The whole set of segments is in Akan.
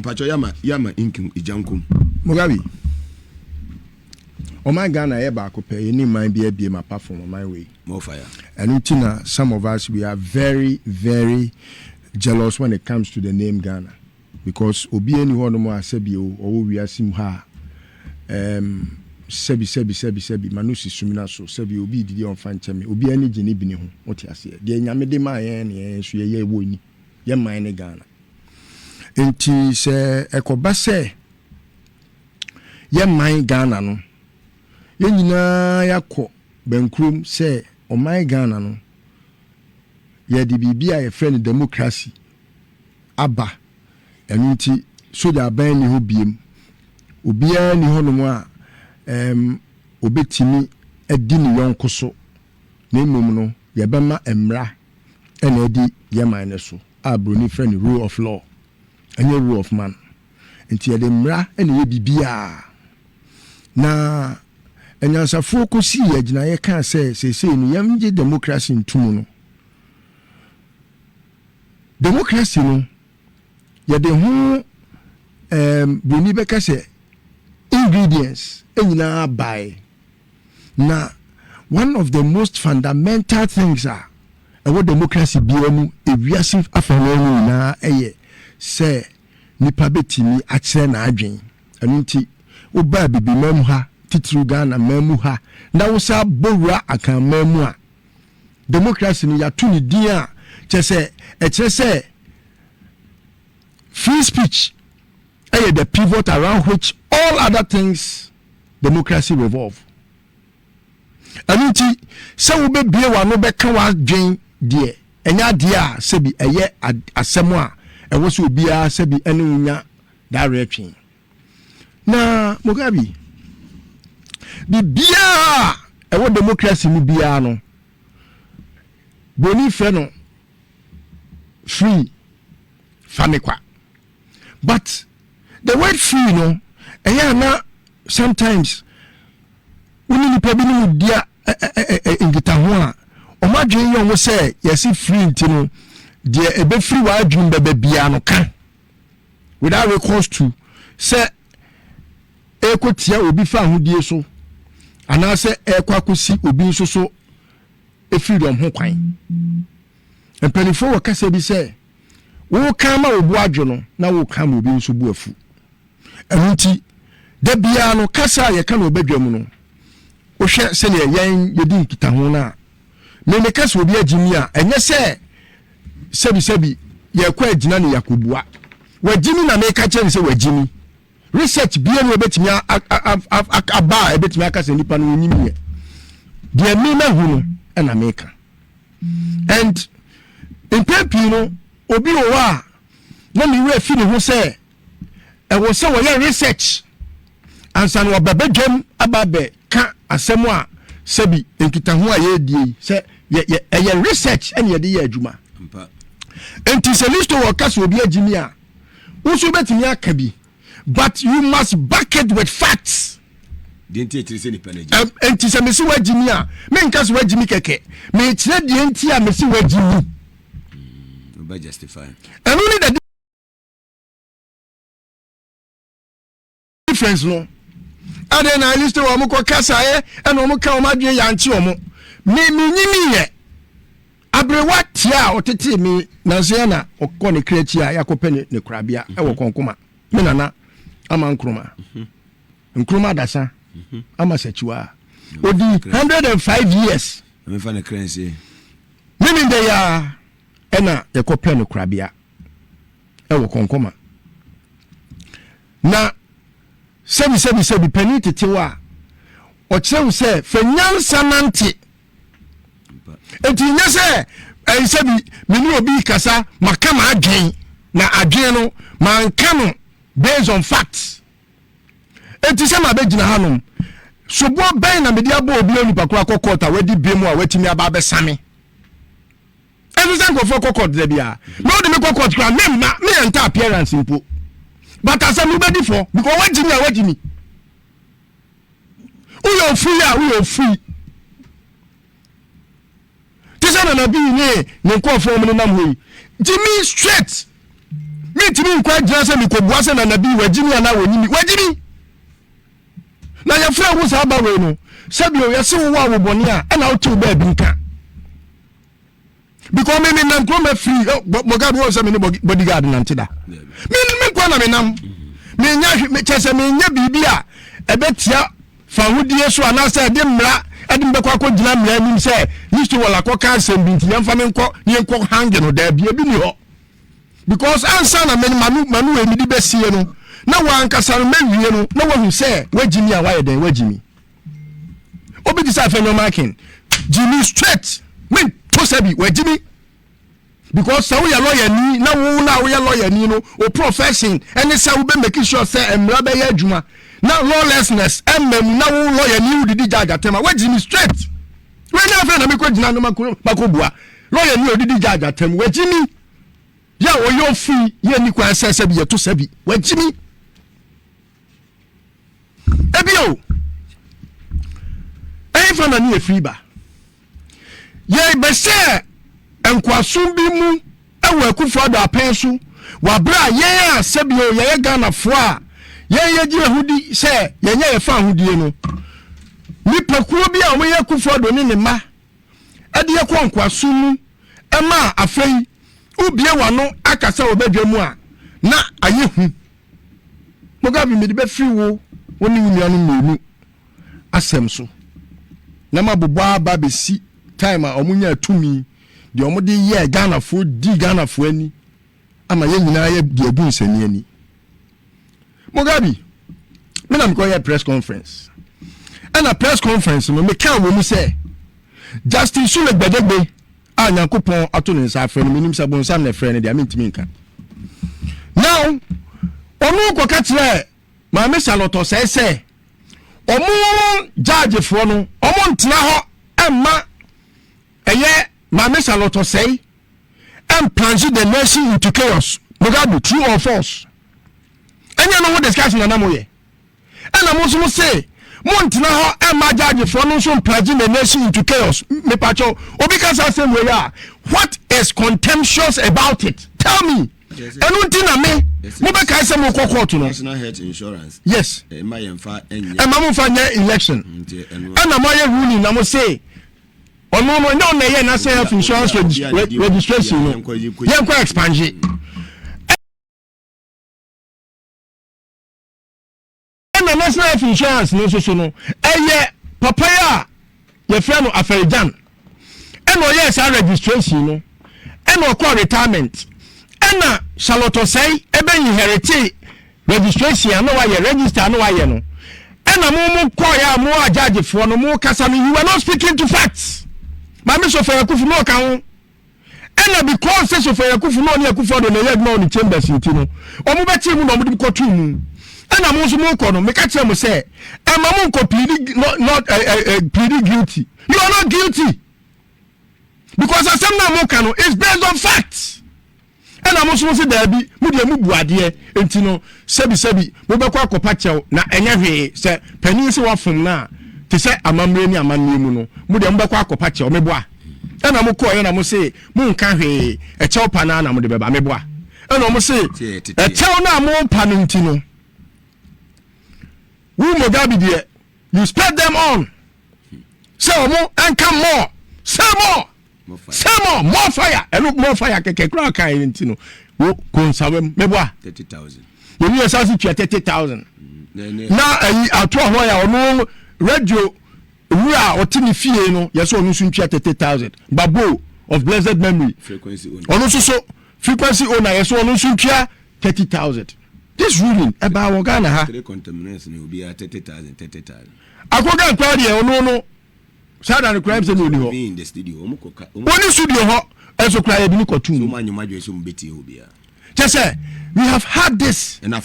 mpatsɔ yama yama nkin igyankom. mugabe ɔman ghana yɛ baako pɛ yɛne man bi abiem apart from ɔman wei more fire. Ɛno nti na some of us we are very very jealous when it comes to the name Ghana because obiara nni hɔ nom a sɛbi o ɔwɔ wiase mu ha a ɛɛm sɛbi sɛbi sɛbi sɛbi ma no si sumina so sɛbi obi redidi a ɔmfa nkyɛ me obiara ani gye ne bini ho wote aseɛ deɛ nyame de maa yɛn ne yɛn nso yɛyɛ wɔ ni yɛn man ne Ghana nti sɛ ɛkɔba sɛ yɛn man Ghana no yɛn nyinaa yɛakɔ Bɛnkurom sɛ ɔman Ghana no, yɛde biribi a yɛfrɛ no democracy aba. Ɛno nti sogya aban nni hɔ biom. Obiara nni hɔnom a ɛɛm ɔbɛtumi adi ne yɔnko so, na mmom no yɛbɛma mmara na adi yɛn man no so a Buroni frɛ no rule of law, ɛnyɛ rule of man. Enti yɛde mmara na ɛyɛ biribiara. Na anyansafoɔ kɔsii agyinaeɛ kaa sɛ seesei no yɛngye demokrase nto mu no. Demokrase no yɛde ho ɛɛm buroni bɛka sɛ ingredients nyinaa bae. Na one of the most fundamental things a ɛwɔ demokrase biara mu ewiase afanan mu nyinaa yɛ sɛ Nipa bɛtumi akyerɛ n'adwen. Ɛno nti wo ba Abibimman mu ha, titiriw Ghana man mu ha, na wo san bɔ wura Akan man mu a, democracy no yɛato no din a, kyerɛ sɛ ɛkyerɛ sɛ free speech yɛ the pivot around which all other things democracy revolve. Ɛno nti, sɛ wobɛbue w'ano bɛka w'adwen deɛ, ɛnyɛ adeɛ a sɛbi ɛyɛ asɛm a ɛwɔ sɛ obiara sɛbi ne wo nya dawerɛtwe. Na Mugabe, biribiara a ɛwɔ demokrasi mu biara no, Broni frɛ no free, fa me kwa. but the word free no ɛyɛ a na sometimes wo ne nipa bi ne mu di a nkitaho a wɔn adwene yɛ wɔn sɛ yɛsi free nti no deɛ ɛbɛfiri wɔn adwene bɛbɛ biara no ka without recourse to sɛ ɛkɔ tia obi fa ahodie so anaasɛ ɛkɔ akɔsi obi nso so ɛfiri dɔm ho kwan mpanimfoɔ wɔ kasa bi sɛ Woka ma wo bo adwo no na woka ma obi nso bo afu. Ɛno nti, da biara no, kasa a yɛka no wɔ badwam no, wohwɛ sɛnea yɛn yɛdi nkitaho no a, me meka sɛ obi agye mi a, ɛnyɛ sɛ sɛbisɛbi yɛrekɔ agyina ne yɛakɔbua. Wagye mi na meka kyerɛ no sɛ wagye mi. Research biara mu ebetumi aba a ebetumi aka sɛ nipa no onyim yɛ. Deɛ me mahu no ɛna meka. And mpɛn pii no obi wɔ hɔ a na ne werɛ fi ne ho sɛ ɛwɔ sɛ wɔyɛ research ansa na wɔba badwam aba abɛka asɛm a sɛbi nkitaho a yɛredie yi sɛ ɛyɛ research ɛne yɛde yɛ adwuma. Nti sɛ listo wɔ ka sɛ obi agyimi a Wo nso wobɛtumi aka bi but you must back it with facts. Deɛ nti ɛkyerɛ sɛ nipa no agyi. Ɛnti sɛ mesi wagyi mi a menka sɛ wagyi mi kɛkɛ mekyerɛ deɛ nti a mesi wagyi mi. Wobɛ hmm, justify. Ɛno ne dade. difference no ɛdɛn na liste wɔn kɔ kasaeɛ ɛna wɔn ka wɔn adwene yankye wɔn me me nyini yɛ aberewa tia a ɔtete me nanseɛ na ɔkɔ ne kra akyi a yɛakɔpɛ ne ne korabea ɛwɔ mhm. kɔnkoma me nana ama nkroma mhm. nkroma adasa mhm. ama sakyiwa a odi hundred and five years menim de yɛ a ɛna yɛkɔpɛ ne korabea ɛwɔ kɔnkɔma na sɛbisɛbisɛbi panin tetew a ɔkyerɛ wo sɛ fɛ nyansa nante nti nyɛ sɛ ɛyi sɛ bi mene obi kasa maka ma adwen na adwen no manka no based on facts nti sɛ mabɛgyina hanom soboɔ bɛn na mede abɔ obi onipa koro akɔ kɔɔta wadi bi mu a watumi aba abɛsame ɛnso sɛ nkurɔfoɔ kɔ court da biara na wode me kɔ court koraa memma meyɛ nta appearance mpo but asɛm no bɛdi fɔ because woagye mi a woagye mi woyɛ ofui a woyɛ ofui te sɛ nana bi ne ne nkurɔfoɔ mu no nam hɔ yi gye mi straight mentumi nkɔ agyina sɛ mekɔbua sɛ nana bi wagye mi anaa wɔnyi mi wagye mi na yɛfrɛ wo saa ba wei no sɛbio yɛse wo wɔ a wobɔne a ɛna wotew baabi nka because me me nam kurom afiri eh, bɔga bi wɔn sɛ me ne bodyguard nante da me me nkwa na me nam me nya hwe me kyɛ sɛ me nya biribi a ɛbɛtia fahodie so anaasɛ ɛde mmara ɛde me bɛkɔ akɔ gyina mmara anim sɛ yisto wɔn akɔ ka asɛm bi nti yɛn fa me nkɔ ne yɛn nkɔ hange no daabi ebi ni hɔ because ansa na me manu manu emidi bɛsie no na wɔn ankasa no mɛwie no na wɔn hu sɛ wɔagyi mi a wɔayɛ dɛn wɔagyi mi. obi te sɛ afei nneɛma aken gyimi straight me to sɛ bi wagyimi because sɛ woyɛ lawyer ni na wo na woyɛ lawyer ni no o profession ɛne sɛ wobɛ make sure sɛ mmara bɛyɛ adwuma na lawlessness ɛmma mu na wo lawyer ni wodidi judge atɛm a wagyimi straight wei na afei na mekɔ gyina no makɔ bua lawyer ni odidi judge atɛm wagyimi yɛ ɔyɛ ofi yɛ ni kwan sɛ sɛ bi yɛto sɛ bi wagyimi Ebio, ɛhefa na ne efiri ba? Yɛbɛhyɛ nkoasom bi mu wɔ Akufo-Addo apɛn so wɔ abere a yɛn a sɛbio yɛyɛ Ghanafoɔ a yɛn yɛgye yɛn ho di sɛ yɛnyɛ yɛn fa ahodie no. Nnipakuo bi a wɔyɛ Akufo-Addo ne ne mma de yɛkɔ nkoasom mu ma afei wobie w'ano aka sɛ wɔbɛdwa mu a na ayɛ hu. Mugabe, mede bɛfiri wo, wo ne wo nuanom mmienu asɛm so, na mabobɔ aba abɛsi time a wɔnyaa tumi, deɛ wɔde yɛɛ Ghanafoɔ, dii Ghanafoɔ ani, ama yɛn nyinaa yɛ de agu nsɛnni ani. Mugabe, me na mekɔyɛ press conference, ɛna press conference no mekaa wɔ mu sɛ Justin Sule Gbadegbe a nyankopɔn ato ne nsa afrɛ no menim sɛ bonsam na ɛfrɛ no deɛ mentumi nka now ɔno kɔka kyerɛ maame salɔtɔ sɛ sɛ ɔmo gyaagyefoɔ no ɔmo ntena hɔ ɛmma ɛyɛ maame salɔtɔ sɛe and plunge the nation into chaos mugabe true or false ɛnyɛ no ho discussion na na moyɛ Ɛna mo nso mo se mo ntena hɔ ɛma judge foɔ no nso mplage the nation into chaos. Mepakyɛ obi ka saa asɛm wei a what is contemptuous about it? Tell me. Ɛno nti na me mo bɛkae sɛ mo kɔ court no. National health insurance. Yes. Ɛma yɛn fa nyɛ. Ɛma mo fa nyɛ election. Mm, ɛna mo ayɛ ruling na mo se ɔno no ɛnyɛ ɔna ɛyɛ national health insurance registration no yɛn kɔ expansion. ɛna national health insurance no nso so no ɛyɛ papa yi a yɛfrɛ no afɛrigyan ɛna ɔyɛɛ saa registration no ɛna ɔkɔ retirement ɛna charlotte ɔsɛe ɛbɛ inherite registration a na wayɛ register a na wayɛ no ɛna mo mo kɔɔyɛ a mo agyagyefoɔ no mo kasa no you were not speaking to facts maame sɔfɛ akufu mo ɔka ho. Ɛna because sɛ Sofɛn Akufo na ɔne Akufo Addo na ɛyɛ adwuma wɔ ne chambers nti no, wɔn bɛkyee mu na wɔn de kɔ too mu. Ɛna mo nso mo kɔ no, meka kyerɛ mo sɛ, ɛma mo nkɔ plead not not eh, eh, eh, plead guilty. You are not guilty because asɛm na mo ka no is based on facts. Ɛna mo nso mose daabi, mo deɛ mo bu adeɛ, enti no sɛbi sɛbi mobɛkɔ akɔpa kyɛw na ɛnyɛ hwee, sɛ panin se wafom no a, te sɛ amammerɛ ne amanneɛ mu no, mo deɛ mobɛkɔ akɔpa kyɛw, meboa? Ɛna mo kɔeɛ na mo se mo nka hwee, ɛkyɛw pa no ara na mode bɛba, meboa? Ɛna wɔn se, ɛkyɛw no a mo repa no nti no, wo Mogabi deɛ, you spurred them on, sɛ wɔn nka more, say more! Say more, more fire. Ɛno more fire kɛkɛ kura kan yɛ nti no. Wo konsawam mɛboa. Thirty thousand. Yɛn yɛ sansi tua thirty thousand. Mm, na ayi ato ahɔ yɛ ɔno radio wura a ɔte ne fie no yɛ sɛ ɔno nso ntua thirty thousand. Babo of blessed memory. Frequency owner. Ɔno nso so frequency owner yɛ sɛ ɔno nso ntua thirty thousand. This ruling ɛbaa wɔ Ghana ha. Three contaminants na obiara thirty thousand thirty thousand. Akoga nkwa deɛ ɔno no. saa da no koraa sɛ na ɔni hɔ ɔni studio hɔ ɛnso koraa yɛde no kɔto mu kyɛ sɛ we have had this na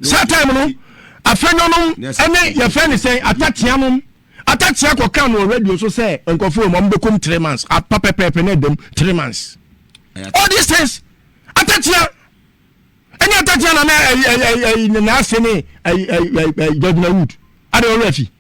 saa time no afɛnyɔ nom ɛne yɛfrɛ ne sɛn atatea nom atatea kɔka no radio so sɛ nkɔfoɔ mu ɔmbɛkɔm three months apa pɛpɛɛpɛ no adam three months all these things atatea ɛne atatea na na ɛyi ɛyi ɛyi na ase ne ɛyi ɛyi ɛyi judgment wood ade ɔwura fi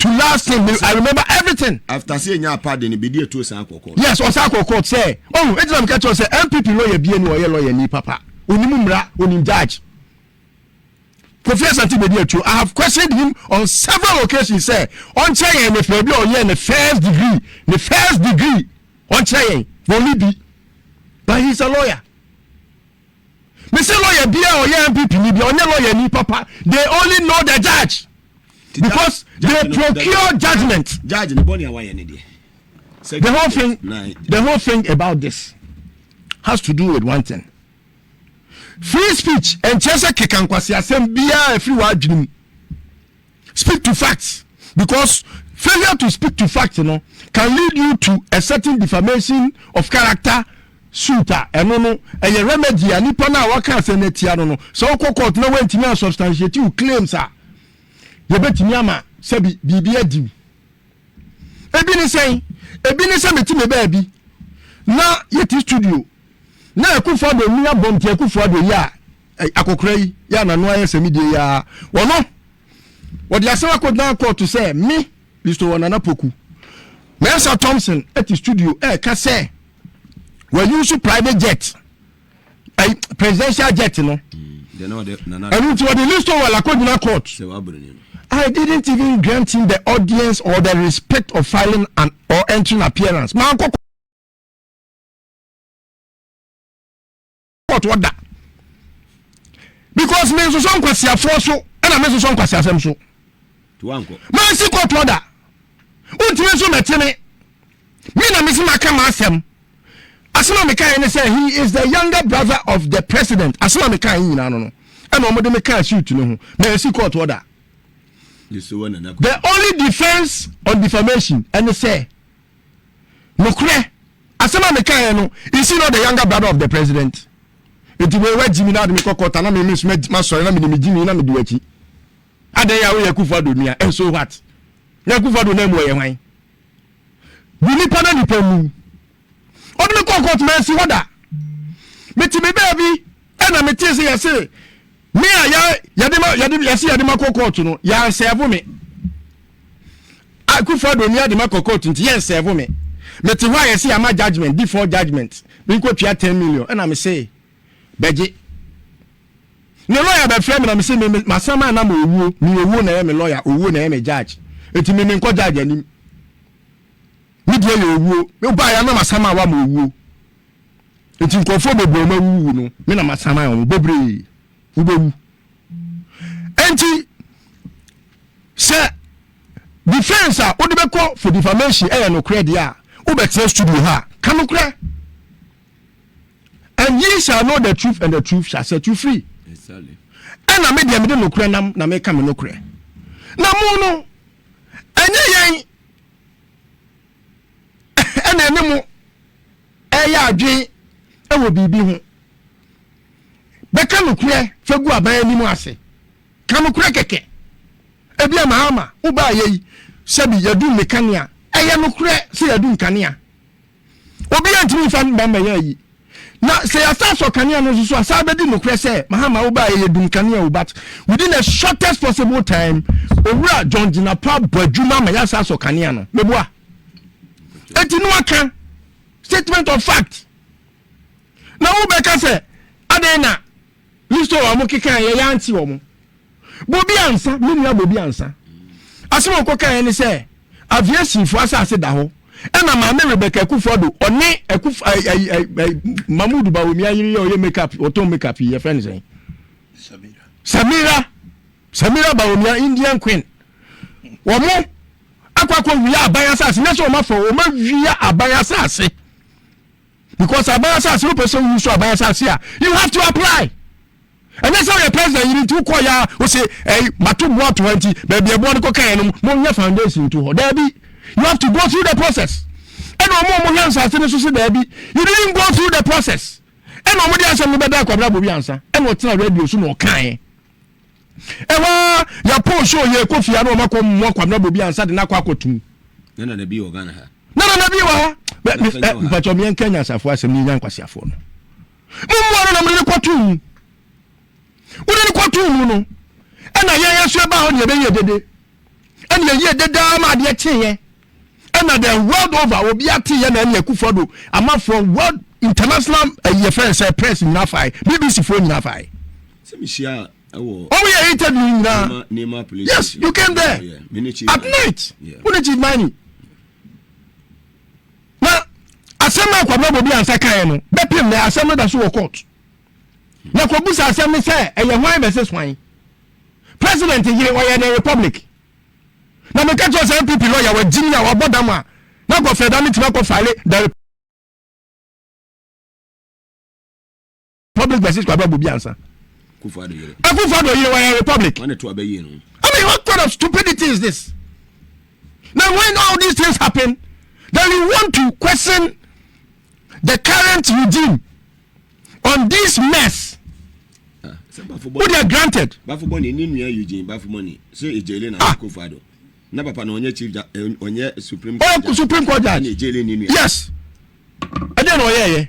to last thing me i remember everything. after say enya apade no bedi etu osan akɔ court. yes ɔsan akɔ court sɛ ɔhun eti na mi ka kyerɛ sɛ npp lawyer bie ni ɔyɛ lawyer ni papa onim mmira onim judge kofi asante bedi etu i have questioned him on several occasions sɛ ɔnkyerɛ yɛn ne fɛ bi a ɔyɛ ne first degree ne first degree ɔnkyerɛ yɛn na ɔni bi but he is a lawyer. Me se lawyer bia ɔyɛ MPP ni bia ɔnyɛ lawyer ni papa. They only know the judge because they procure judgment. Judge ne bɔne awayɛ ne deɛ. The whole thing, the whole thing about this has to do with one thing. Free speech ɛnkyerɛ sɛ keka nkwasi asɛm biara ɛfiri w'adwene mu. speak to facts because failure to speak to facts no can lead you to a certain defamation of character suit a ɛno no ɛyɛ remedy a nipa no a waka asɛm no atia no no sɛ ɔkɔ court na wantumi a substantiate wo claims a yɛbɛtumi ama sɛbi biribi adiw ebi ne sɛn ebi ne sɛ mete me baabi na yɛte studio na ɛkofa do mmea bɔm te ɛkofa do yɛ a akɔkora yi yɛ anano ayɛ sɛ me deɛ yɛa wɔno wɔde asɛm akɔgyina kɔɔto sɛ me listo wɔ nana poku mɛnsa thompson ɛte studio ɛka sɛ wɔyi nso private jet ɛyi presidential jet no ɛnu nti wɔde listo wɔ lakɔgyina court I didn't even grant him the audience or the respect of filing an or entering appearance. Maa nkɔkɔ. ɔtɔ da because me nsosɔ nkwasiafoɔ so ɛna me nsosɔ nkwasiasɛm so mansi kɔtɔ da wontumi nso mɛte me me na mesi maka m'asɛm asɛm a mekaeɛ ne sɛ he is the younger brother of the president asɛm a mekaeɛ nyinaa no no ɛna ɔmode mekaa suit no ho mansi kɔtɔ da the only defence on defamation ɛne sɛ Nokorɛ, asɛm a mekaeɛ no, is he not the younger brother of the president? Enti wei wagyi me na ɔde me kɔ court ana me me nso madi masɔre na mede megyi me na mede wakyi? Adɛn a woyɛ Akufo Addo nua and so what? Na Akufo Addo nan mu ɔyɛ hwan? Gu nipa na nipa mu. Ɔde me kɔ court mansi hɔ da. Mete me baabi ɛna metee sɛ yɛse me a yɛ yɛde ma yɛde yɛsi yɛde ma kɔ kɔɔto no yɛn nsɛɛfo me akufo ado ni ade ma kɔ kɔɔto nti yɛn nsɛɛfo me me te hɔ a yɛsi ama judgement default judgement me nkɔ tua ten million ɛna me se bɛgye ne lɔya bɛfrɛ me na me se me ma sɛm a na ma owuo me owuo na ɛyɛ me lɔya owuo na ɛyɛ me judge eti me me nkɔ judge anim me deɛ yɛ owuo me ba yɛ anam asɛm a wa ma owuo. Enti nkurɔfoɔ bebree wɔn awuwu no, me na masan ayɛ wɔn bebree. Wobɛwu. Enti sɛ defense a wode bɛkɔ for defamation ɛyɛ nokorɛ deɛ a, wobɛtena studio ha ka nokorɛ. And ye shall know the truth and the truth shall set you free. Ɛna me deɛ mede nokorɛ nam na meka me nokorɛ. Na mo no, ɛnyɛ yɛn ɛna ɛne mo ɛyɛ adwen ɛwɔ biribi ho bɛka nokorɛ fɛ gu aban anim ase ka nokorɛ kɛkɛ ebi a mahama wobaa yɛ yi sɛbi yɛdum ne kanea ɛyɛ nokorɛ sɛ yɛdum kanea obi antumi nfa mba mbɛyɛ yi Na sɛ yɛasan sɔ kanea no nso so a, saa bɛdi nokorɛ sɛ Mahama wo baeɛ yɛ dum kanea o but within the shortest possible time Owura John Jinapah bɔ adwuma ma yɛasan sɔ kanea no. Meboa. Enti no aka statement of fact na wobɛka sɛ adɛn na Listo a wɔn kekae yɛ yɛante wɔn. Bobi Ansa, me nua Bobi Ansa. Asɛm a wɔkɔ kaeɛ ne sɛ aviationfoɔ asase da hɔ ɛna maame Rebecca Akufo-Addo ɔne Akuf ay ay ay ay Mahmood Bawumia yere yɛ ɔyɛ makeup ɔtɔn makeup yi yɛfrɛ ne sɛn Samira Samira Samira Bawumia Indian Queen wɔn akɔ akɔ wia aban asase nyɛ sɛ wɔn afɔ wɔn awia aban asase. Because aban asase wopɛ sɛ woyi so aban asase a you have to apply. Ɛnyɛ sɛ woyɛ president yiri nti wokɔ ya wo se ɛyi mato mmoa ato ha nti baabi ɛboa no kɔka yɛ no mo nyɛ foundation to hɔ daabi you have to go through the process. Ɛna ɔmo ɔmo hwɛ nsase no so se daabi you didn't go through the process. Ɛna ɔmo de asɛm no bɛda akwabrabɔ bi ansa ɛna ɔtena radio so na ɔkaeɛ. Ɛhɔ ara, yɛpoo show yɛn kɔ fie a na wɔn akɔ mmoa Kwabena Bobi ansa de no akɔ akɔtum. Na Nana Bi wɔ Ghana ha. Na Nana Bi wɔ ha. Mpatsɔ meɛ nka nyansafo asɛm ne nya nkwaseafoɔ no. Mo mmoa no na mode no kɔtoo mu. Wode no kɔtoo mu no. Ɛna yɛn yɛn so ɛbaa hɔ ne yɛbɛyie dede. Ɛne yɛyie dedaa ma adeɛ kyeeɛ. ɛna the world over obi ate yɛ na ɛne akufo do amafoɔ world international ɛyɛ eh, fɛn sɛ press nyinaa fae bbc foɔ nyinaa fae. sɛ mi si a ɛwɔ. wɔn yɛ interview nyinaa. nneɛma police yes you came there oh, at night wo ne chief mani. na asɛm a akɔbɔ bobi ansa kan yɛ no bɛpem na asɛm no da so wɔ court na kɔbu sa asɛm no sɛ ɛyɛ hwan versus hwan president yere ɔyɛ ne republic. Na meka kyerɛ sɛ NPP lɔya wagye me a wabɔ dam a na kɔ fɛ da me tumi akɔ file the Republic versus Kwabra Bobi ansa. Akufo Addo yere wayɛ Republic. I mean what kind of stupidity is this? Now when all these things happen then you want to question the current regime on this mess o de granted. bafo bɔnni ni nua eugene bafo bɔnni so ejele na ah. kofa do na papa na ɔnyɛ chief ja eh, ɔnyɛ supreme court ɔyɛ supreme court judge ɛna ejele ni nua. yes ɛdɛ na ɔyɛ yɛ.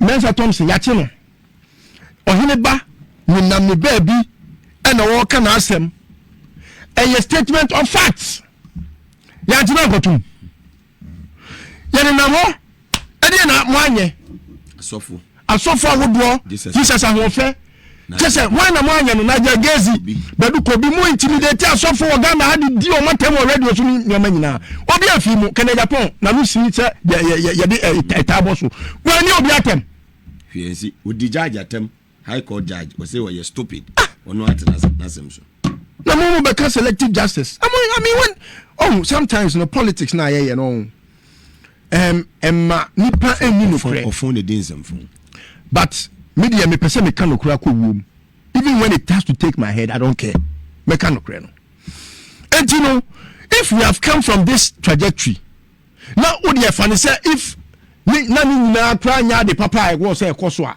Mensa Thompson yɛakye no. Ɔhene ba ne nam ne baabi ɛna ɔreka n'asɛm. Ɛyɛ statement of facts. Yɛagye no akɔtum. Yɛne nam hɔ ɛdeɛ na mo anyɛ. Asɔfo. Asɔfo ahodoɔ Jesus ahoɔfɛ. kyɛ sɛ hwan na moanyɛ no na agya gezi badu kobi mo intimidate asɔfo wɔ ghana ha de di wɔn atam wɔ radio so ne nneɛma nyinaa obi afii mu kɛnɛ japan na no si sɛ yɛde ɛtaa bɔ so wɔani obi atam hwɛ nsi odi judge atam high court judge ɔsɛ ɔyɛ stupid ah! ɔno ate n'asɛm so na mo mo bɛka selective justice I mean, I mean when, oh, sometimes no politics na ayɛyɛ no oh. um, ɛma nipa ɛnni nokorɛ. Ɔfɔn na di nsɛmfo. But me deɛ mepɛ sɛ meka nokorɛ akɔ wuom even when it has to take my head I don't care mɛka nokorɛ no. Enti no if we have come from this trajectory na wo deɛ fa ne sɛ if ne na ne nyinaa koraa nyɛ ade papa a ɛwɔ sɛ ɛkɔ so a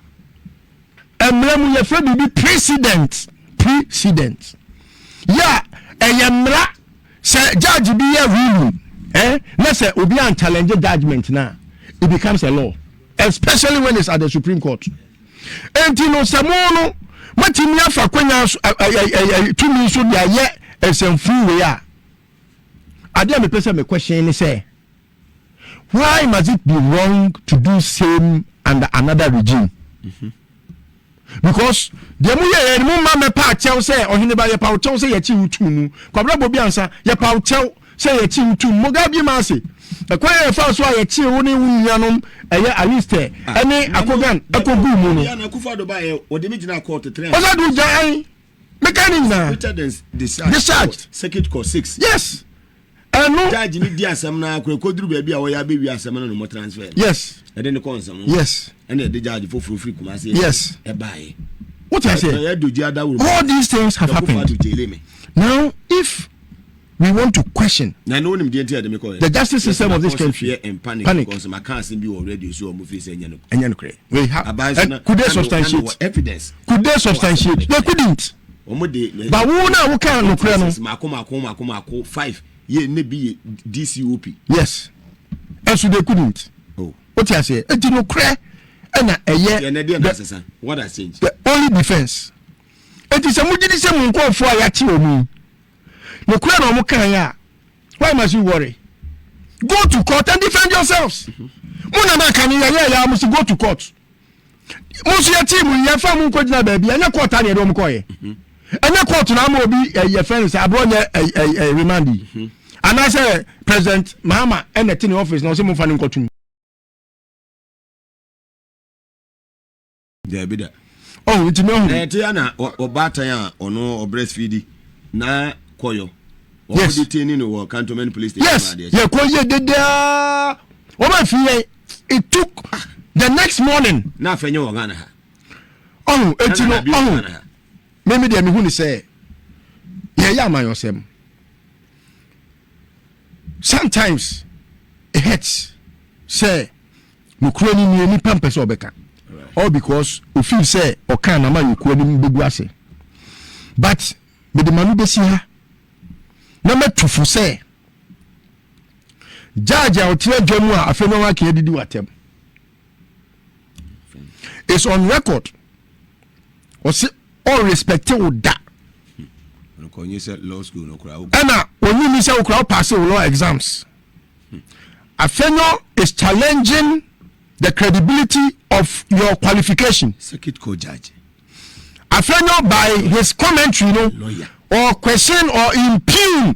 mmerɛ mu yɛfrɛ biribi precedent precedent yɛ a ɛyɛ mmara Sɛ judge bi yɛ ruling eh, na sɛ obi an challenge judgement no a, it becomes a law especially when it's at the supreme court. Enti no sɛ mo no matumi afa kwanya tumi so de ayɛ nsɛmfuu wei a, adeɛ a mepɛ sɛ me question ne sɛ, Why must it be wrong to do same under another regime? Because deɛ mo yɛ yɛ mo mma mɛpa akyɛw sɛ ɔhene ba yɛpa wo kyɛw sɛ yɛkyi wo tum mu kwabra bobi ansa yɛpa wo kyɛw sɛ yɛkyi wo tum mo gabi ma ase ɛkwan yɛ yɛfa so a yɛkyi wo ne wo nuanom ɛyɛ alistɛ ɛne akogan ɛkɔ gu mu no ɔsɛ do gya ɛn meka ne nyinaa discharge yes ɛno judge no di asɛm no akora ɛkɔduru baabi a wɔyɛ abɛwie asɛm no no mo transfer no yes ɛde ne kɔ nsɛm yes ɛna ɛde judge foforɔ firi kuma ase yes ɛbaeɛ what I say all these things have happened now if we want to question na ɛno wonim deɛ nti ɛde me kɔɛ the justice system of this country panic panic because maka asɛm bi wɔ radio so ɔmo fi sɛ ɛnyɛ no ɛnyɛ no korɛ we have could they substantiate evidence could they substantiate they couldn't wɔn de. ba wo na wo ka nokorɛ no. mako mako mako mako five yɛ ne bi yɛ dcop. yes ɛnso de ku nint. o oh. ti aseɛ eti nokorɛ ɛna ɛyɛ. yɛn ɛdeɛ na asesa what has changed. the only defence eti sɛ mo gidi sɛ mo nkɔɔfo a yɛakye wɔn mu nokorɛ na wɔn kan yɛ a why must you worry go to court and defend yourselves. Mm -hmm. mo nana kan yɛ yɛ yɛ a mo si go to court. mo nso yɛtee mu yɛfa mo nkɔgyina baabi ɛnyɛ kɔɔta ne ɛde wɔn kɔɔyɛ mhm. ɛnyɛ kɔɔto na ama obi eh, yɛfrɛ no sɛ aborɔ nyɛ eh, eh, remand yi mhm. anaasɛ president mahama ɛna te ne office na ɔsɛ momfa no nkɔtom daabi da ɔho nti mɛhu na ɛte ana ɔbaatan a ɔno ɔbrɛsfidi na kɔyɔ wɔn yes. de tini no wɔ cantonment police station yes yɛ kɔ yɛ dedaa wɔn afi yɛn it took the next morning. na afɛ nyɛ wɔ ghana ha. ɔho eti no ɔho mimi deɛ mihu ni sɛ yɛyɛ amanyɔsɛm sometimes it hurts sɛ nokura ni nie nipa mpɛ sɛ ɔbɛka all because ofin sɛ ɔka na ma nokura ni bɛgu ase but mede ma no bɛsi ha na mɛtufo sɛ. Judge a ɔte adwa mu a afei na wake adidi w'atɛm is on record ɔse ɔrespecte wo da ɛna ɔnyi ni sɛ wo kora wopaase wo law exams afei no is challenging the credibility of your qualification circuit court judge afei no by his commentary no or question or impugn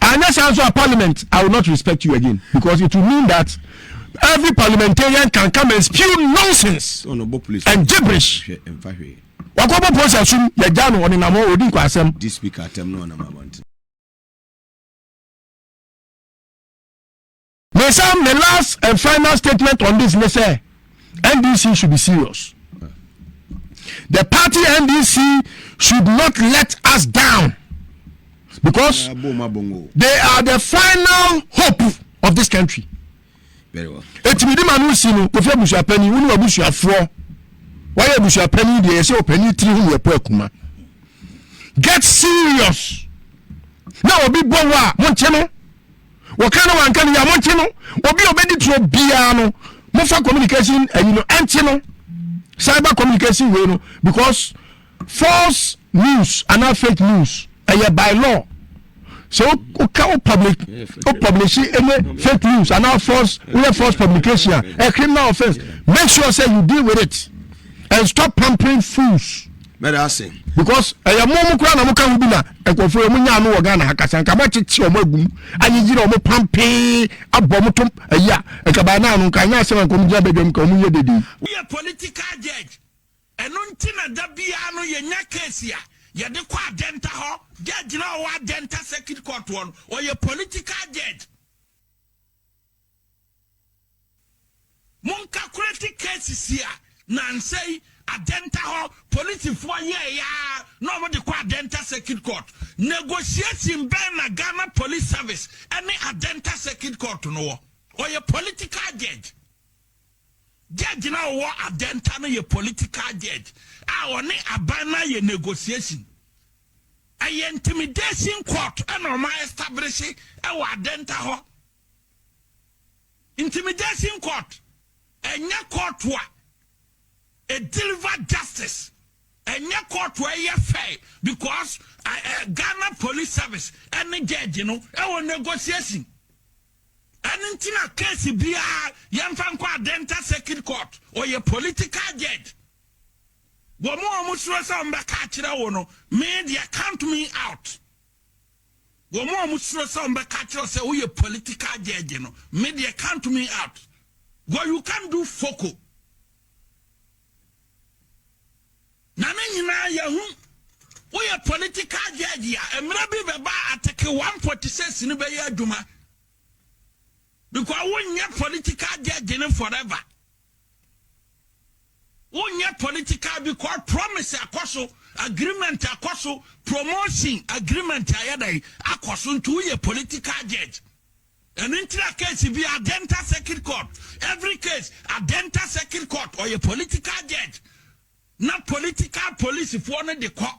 Anyɛ saa nso a parliament I will not respect you again because it will mean that every parliamentarian can come and spew nonsense and gibberish. Wakɔbɔ polisi asum yɛgya no ɔnenam hɔ ɔdi nkwasɛm. Me sa me last and final statement on this ne sɛ NDC should be serious. The party NDC should not let us down because they are the final hope of this country. Very well. Etimi di ma no si no kofi abusuapani wone abusuafoɔ wayɛ abusuapani deɛ yɛsɛ ɔpani tiri ho yɛpɔ akuma get serious na obi bɔ wo a monte no wɔka no wanka no yɛ a monkye no obi a ɔbɛdi turo biara no mofa communication ayi no ɛnkye no cyber communication wei no because false news anaa fake news ɛyɛ by law sɛ woka wo public wo publish ɛnyɛ fake news anaa false woyɛ false publication a a criminal offence make sure say you deal with it and stop pampering fools. Mɛda ase. Because ɛyɛ mo mo kura na mo ka ho bi na nkurɔfoɔ yɛ mo nya ano wɔ Ghana ha kasa nka mo akyekye wɔn agum ayiyi na wɔn pampee abɔ mo to ayi a nka by now no nka anya asɛm nka wɔn gyina badwam nka wɔn yɛ dede. Woyɛ political judge ɛno nti na da biara no yɛnya case a yɛde kɔ adɛnta hɔ, judge no a ɔwɔ adɛnta circuit court hɔ no ɔyɛ political judge. Monkakuleti cases yi a nansa yi Adenta hɔ polisifoɔ yɛɛe ara na wɔde kɔ Adenta Circuit Court. Negotiation bɛn na Ghana Police Service ne Adenta Circuit Court no wɔ? Ɔyɛ political judge. Judge no a ɔwɔ Adenta no yɛ political judge a ɔne aban no ayɛ negotiation. Ɛyɛ intimidation court na ɔmo a establish ɛwɔ adenta hɔ. Intimidation court ɛnyɛ court a ɛdeliver justice. Ɛnyɛ court a ɛyɛ fair because Ghana police service ɛne judge no ɛwɔ negotiation. Ɛne nti na case biara yɛmfa nkɔ adenta circuit court ɔyɛ political judge. Wɔn a wɔsuro sɛ wɔbɛka akyerɛ wo no, me deɛ count me out. Wɔn a wɔsuro sɛ wɔbɛka akyerɛ wo sɛ woyɛ political judge no, me deɛ count me out. Well, you can't do foco. Na ne nyinaa yɛhu woyɛ political judge a mmerɛ bi bɛba ateke 146 no bɛyɛ adwuma because wonyɛ political judge no forever. Wonyɛ political bi kɔ promise akɔ so agreement akɔ so promotion agreement ayɛ dɛn akɔ so nti woyɛ political judge ɛno nti na case bi adenta circuit court every case adenta circuit court ɔyɛ political judge na political police foɔ no de kɔ.